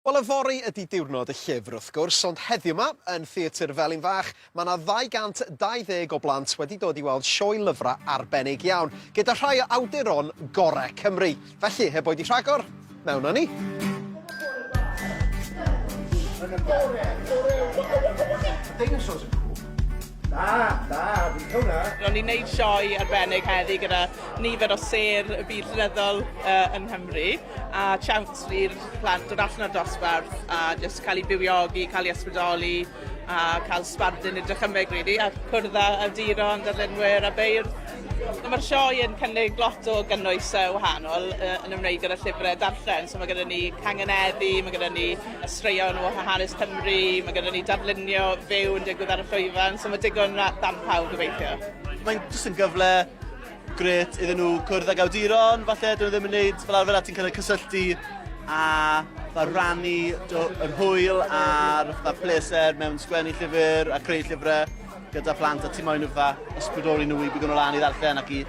Wel, yfory ydi diwrnod y llyfr, wrth gwrs, ond heddiw 'ma, yn Theatr Felin Fach, mae 'na 220 o blant wedi dod i weld sioe lyfrau arbennig iawn, gyda rhai o awduron gore Cymru. Felly, heb oedi rhagor, mewn â ni! Dinosaurs yn cŵl. Na, na, fi'n licio hwnna. Ro'n ni'n neud sioe arbennig heddi gyda nifer o sêr y byd llenyddol yy yng Nghymru. a chance i'r plant dod allan o'r dosbarth a jyst cael eu bywiogi, cael eu ysbrydoli a cael sbardun i dychymyg rili a cwrdd â awduron, darllenwyr a beirdd. A ma'r sioe yn cynnig lot o gynnwys yy wahanol yy yn ymwneud gyda llyfre darllen so ma' gyda ni cangeneddi, ma' gyda ni yy straeon o ha- hanes Cymru, ma' gyda ni darlunio fyw yn digwydd ar y llwyfan so ma' digon ra- darn pawb gobeithio. Mae'n jyst yn gyfle grêt iddyn nhw cwrdd ag awduron, falle, dyn nhw ddim yn neud fel arfer a ti'n cael eu cysylltu a fel rannu yr hwyl a'r fatha pleser mewn sgwennu llyfr a creu llyfrau gyda plant a ti moyn nhw fatha ysbrydoli nhw i bigo'n lan i ddarllen ac i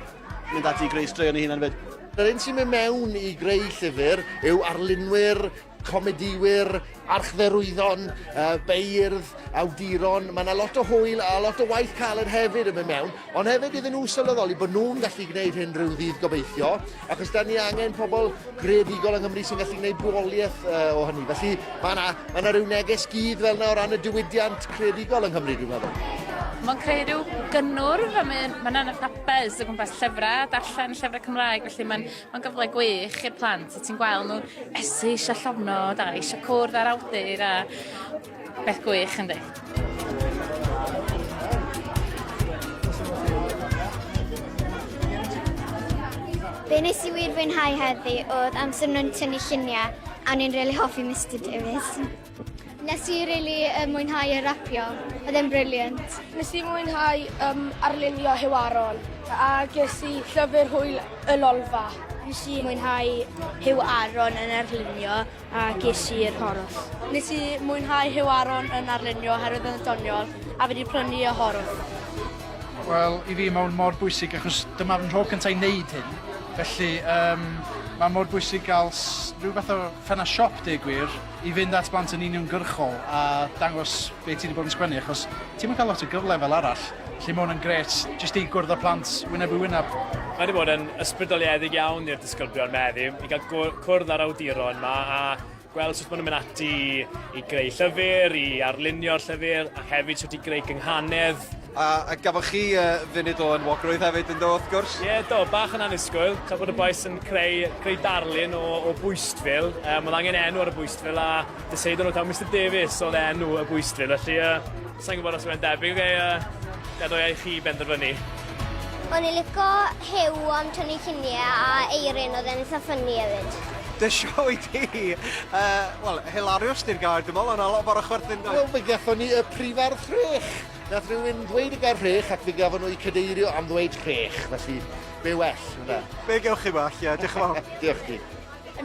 mynd ati i greu straeon ei hunan fyd. Yr un sy'n mynd mewn i greu llyfr yw arlunwyr comedïwyr, archdderwyddon, uh, beirdd, awduron. Mae yna lot o hwyl a lot o waith caled hefyd yn mynd mewn, ond hefyd iddyn nhw sylweddoli bod nhw'n gallu gwneud hyn rhyw ddydd gobeithio, achos da ni angen pobl greadigol yng Nghymru sy'n gallu gwneud bwoliaeth uh, o hynny. Felly mae yna, mae yna rhyw neges gyd fel yna o ran y diwydiant creadigol yng Nghymru, dwi'n meddwl. Mae'n creu rhyw gynnwrf a mae'n ma yna fatha buzz o gwmpas llyfrau, darllen llyfrau Cymraeg, felly mae'n Mae'n gyfle gwych i'r plant, ti'n gweld nhw esu eisiau llofnod a eisiau cwrdd â'r awdur a beth gwych yn dweud. Be nes i wir fwynhau heddi oedd amser nhw'n tynnu lluniau a o'n i'n rili hoffi Mister Davies. Nes i really um, mwynhau y rapio, oedd e'n briliant. Nes i mwynhau um, arlunio Hiwaron a ges i llyfr hwyl y lolfa. Nes i mwynhau Hiw Aron yn arlunio a ges i'r horwth. Nes i mwynhau Hiw Aron yn arlunio oherwydd yn doniol a fi wedi prynu y horwth. Wel, i fi mae'n mor bwysig achos dyma fy nhro cyntaf i wneud hyn. Felly, um, mae mor bwysig gael rhyw fath o ffena siop, deg gwir, i fynd at blant yn uniongyrchol a dangos be ti 'di bod yn sgwennu achos ti'm yn ca'l lot o gyfle fel arall, felly ma' 'wn yn grêt jyst i gwrdd â plant wyneb i wyneb. Mae 'di bod yn ysbrydoliedig iawn i'r disgyblion meddyg i ga'l gw- cwrdd â'r awduron 'ma a gweld sut ma' nw'n mynd ati i greu llyfyr, i arlunio'r llyfyr ac hefyd shwt i greu cynghanedd A a gafoch chi yy funud o enwogrwydd hefyd yndo wrth gwrs? Ie do, bach yn annisgwyl, tra bod y bois yn creu creu darlun o o bwystfil, yym o'dd angen enw ar y bwystfil a decidon nw taw Mister Davies o'dd enw y bwystfil felly yy sai'n gwbod os yw e'n debyg neu yy gadewai i chi benderfynu. O'n i lico Huw am tynnu llunie a Eirin o'dd e'n itha ffynni efyd. Dy sioe di! Yy wel hilarious di'r gair dwi me'wl o' 'na lot fawr o chwerthin doedd? Wel fe gethon ni y prifardd frech! Nath rhywun ddweud y gair rhech ac fe gafon nhw'u cadeirio am ddweud rhech, felly be well, ynde? Be gewch chi well, ie, diolch yn fawr. Diolch i ti.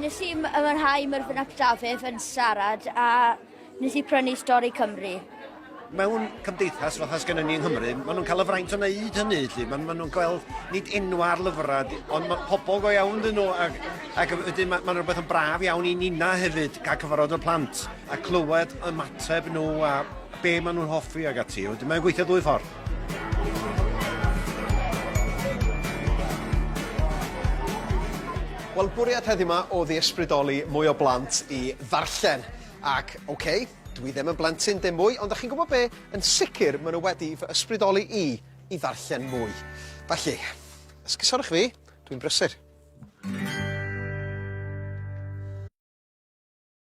Nes i ymwynhau Myrddin ap Dafydd yn siarad a nes i prynu Stori Cymru. Mewn cymdeithas fatha sgynnon ni yng Nghymru, maen nhw'n cael y fraint o wneud hynny, felly. Maen ma nhw'n gweld nid enw ar lyfrau, ond mae pobl go iawn dyn nhw, ac, ac wedyn maen ma rhywbeth yn braf iawn i nina hefyd, cael cyfarfod y plant a clywed ymateb nhw a be maen nhw'n hoffi ag ati. Wedyn mae'n gweithio ddwy ffordd. Wel, bwriad heddiw ma oedd i ysbrydoli mwy o blant i ddarllen. Ac, ok, dwi ddim yn blentyn dim mwy, ond 'dach chi'n gwybod be'? Yn sicr ma' nhw wedi fy ysbrydoli i i ddarllen mwy. Felly, esgusodwch fi, dwi'n brysur.